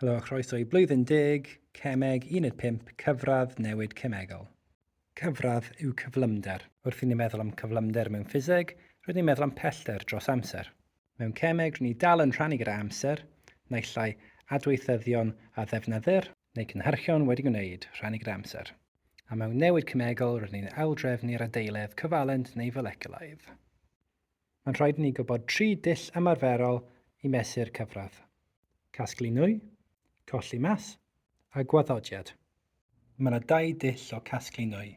Helo a chroeso i Blwyddyn Deg, Cemeg, Uned 5, Cyfradd, Newid Cemegol. Cyfradd yw cyflymder. Wrth i ni meddwl am cyflymder mewn ffiseg, rydyn ni'n meddwl am pellter dros amser. Mewn cemeg, rydyn ni dal yn rhannu gyda amser, naill ai adweithyddion a ddefnyddir, neu cynhyrchion wedi gwneud, rhannu gyda amser, a mewn newid cemegol, rydyn ni'n aildrefnu'r adeiledd, cyfalent neu foleculaidd. Mae'n rhaid i ni gwybod tri dull ymarferol i mesur cyfradd, casglu nwy, colli math, a gwaddodiad. Mae yna dau dull o gasglu nwy,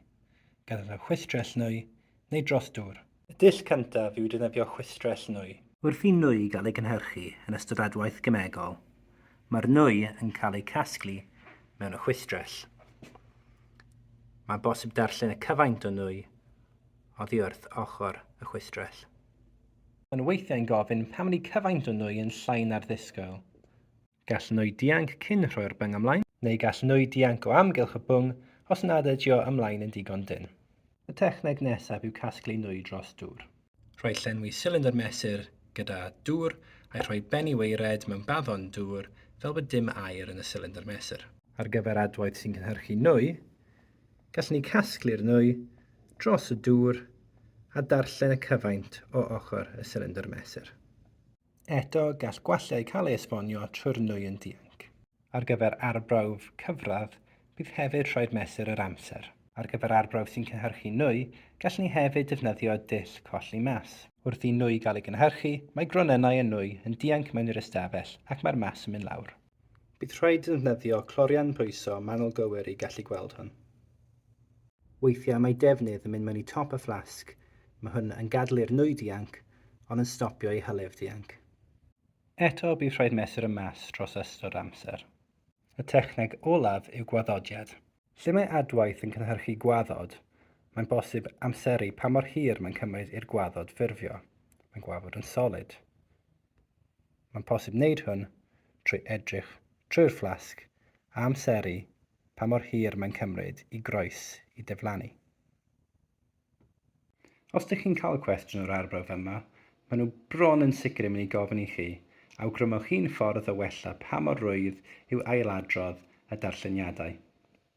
defnyddio chwistrell nwy neu dros dŵr. Y dull cyntaf yw defnyddio chwistrell nwy. Wrth i nwy gael ei gynhyrchu yn ystod adwaith gemegol, mae'r nwy yn cael ei casglu mewn y chwistrell. Mae'n bosib darllen y cyfaint o nwy oddi wrth ochr y chwistrell. Mae'n weithiau'n gofyn pam ni cyfaint o nwy yn llai na'r ddisgwyl. Gall nwy dianc cyn rhoi'r byng ymlaen. Neu gall nwy dianc o amgylch y byng os nad ydio ymlaen yn digon dynn. Y techneg nesaf yw casglu nwy dros dŵr. Rhoi llenwi silindr mesur gyda dŵr a'i rhoi ben i waered mewn baddon dŵr fel bod dim aer yn y silindr mesur. Ar gyfer adwaith sy'n cynhyrchu nwy, Gallwn ni casglu'r nwy dros y dŵr a darllen y cyfaint o ochr y sylindr mesur. Eto, gall gwallau cael ei esbonio trwy'r nwy yn dianc. Ar gyfer arbrawf cyfradd, bydd hefyd rhaid mesur yr amser. Ar gyfer arbrawf sy'n cynhyrchu nwy, gallwn ni hefyd defnyddio dull colli mas. Wrth i nwy gael ei gynhyrchu, mae gronynnau y nwy yn dianc mewn i'r ystafell ac mae'r mas yn mynd lawr. Bydd rhaid defnyddio clorian pwyso manwl gywir i gallu gweld hwn. Weithiau mae defnydd yn mynd mewn i top y fflasg, mae hwn yn gadlu'r nwy dianc ond yn stopio i hylif dianc. Eto bydd rhaid mesur y mas dros ystod amser. Y techneg olaf yw gwaddodiad. Lle mae adwaith yn cynhyrchu gwaddod, mae'n bosib amseru pa mor hir mae'n cymryd i'r gwaddod ffurfio. Mae'n gwafod yn solid. Mae'n posib wneud hwn trwy edrych trwy'r fflasg a amseru pa mor hir mae'n cymryd i groes i diflannu. Os ydych chi'n cael cwestiwn o'r arbrawf yma, maen nhw bron yn sicr yn mynd i gofyn i chi, awgrymwch un ffordd o wella pa mor rwydd yw ailadrodd y darlleniadau,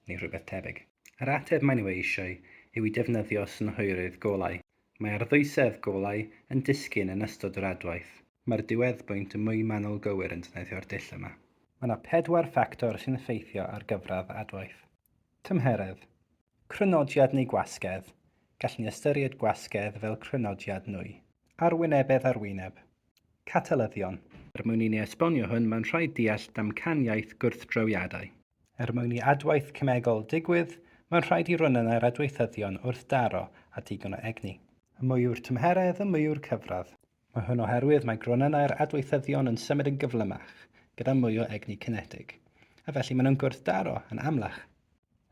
neu rhywbeth tebyg. Yr ateb maen nhw ei eisiau yw i defnyddio synhwyrydd golau. Mae arddwysedd golau yn disgyn yn ystod yr adwaith. Mae'r diweddbwynt yn mwy manwl gywir yn defnyddio'r dull yma. Mae yna pedwar ffactor sy'n effeithio ar gyfradd adwaith. Tymheredd. Crynodiad neu gwasgedd, gallwn ni ystyried gwasgedd fel crynodiad nwy. Arwynebedd arwyneb. catalyddion. Er mwyn i ni esbonio hwn, mae'n rhaid deall damcaniaeth gwrthdroiadau. Er mwyn i adwaith cemegol ddigwydd, mae'n rhaid i ronynnau'r adweithyddion wrthdaro â digon o egni. Y mwy yw'r tymheredd, y mwy yw'r cyfradd. Mae hwn oherwydd mae gronynnau'r adweithyddion yn symud yn gyflymach, gyda mwy o egni cinetig, a felly maen nhw'n gwrthdaro yn amlach.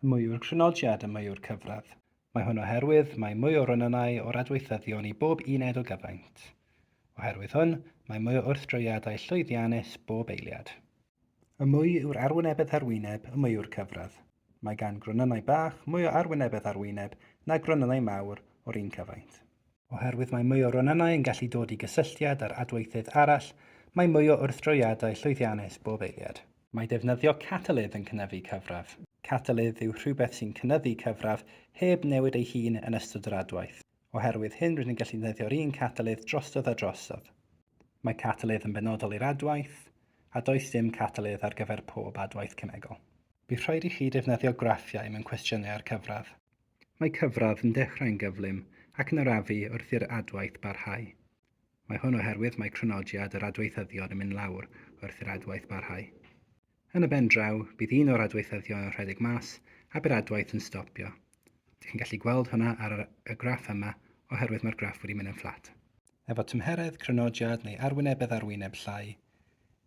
Y mwy yw'r crynodiad, y mwy yw'r cyfradd. Mae hwn oherwydd mae mwy o ronynnau o'r adweithyddion i bob uned o gyfaint. Oherwydd hwn, mae mwy o wrthdroiadau llwyddiannus bob eiliad. Y mwy yw'r arwynebedd ar wyneb, y mwy yw'r cyfradd. Mae gan gronynnau bach mwy o arwynebedd ar wyneb na gronynnau mawr o'r un cyfaint. Oherwydd mae mwy o ronynnau yn gallu dod i gysylltiad â'r adweithydd arall, mae mwy o wrthdroiadau llwyddiannus bob eiliad. Mae defnyddio catalydd yn cynyddu cyfradd. Catalydd yw rhywbeth sy'n cynyddu cyfradd heb newid ei hun yn ystod yr adwaith. Oherwydd hyn rydyn ni'n gallu defnyddio'r un catalydd drosodd a drosodd. Mae catalydd yn benodol i'r adwaith, a does dim catalydd ar gyfer pob adwaith cemegol. Bydd rhaid i chi defnyddio graffiau mewn cwestiynau ar cyfradd. Mae cyfradd yn dechrau'n gyflym ac yn arafu wrth i'r adwaith barhau. Mae hwn oherwydd mae crynodiad yr adweithyddion yn mynd lawr wrth i'r adwaith barhau. Yn y ben draw, bydd un o'r adweithyddion yn rhedeg mas a bydd adwaith yn stopio. Dych chi'n gallu gweld hwnna ar yr, y graff yma oherwydd mae'r graff wedi mynd yn fflat. Efo tymheredd, crynodiad neu arwynebedd arwyneb llai,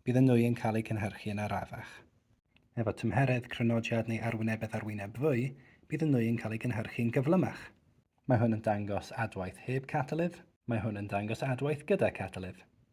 bydd y nwy yn cael eu cynhyrchu yn arafach. Efo tymheredd, crynodiad neu arwynebedd ar wyneb fwy, bydd y nwy yn cael ei gynhyrchu'n gyflymach. Mae hwn yn dangos adwaith heb catalydd. Mae hwn yn dangos adwaith gyda catalydd.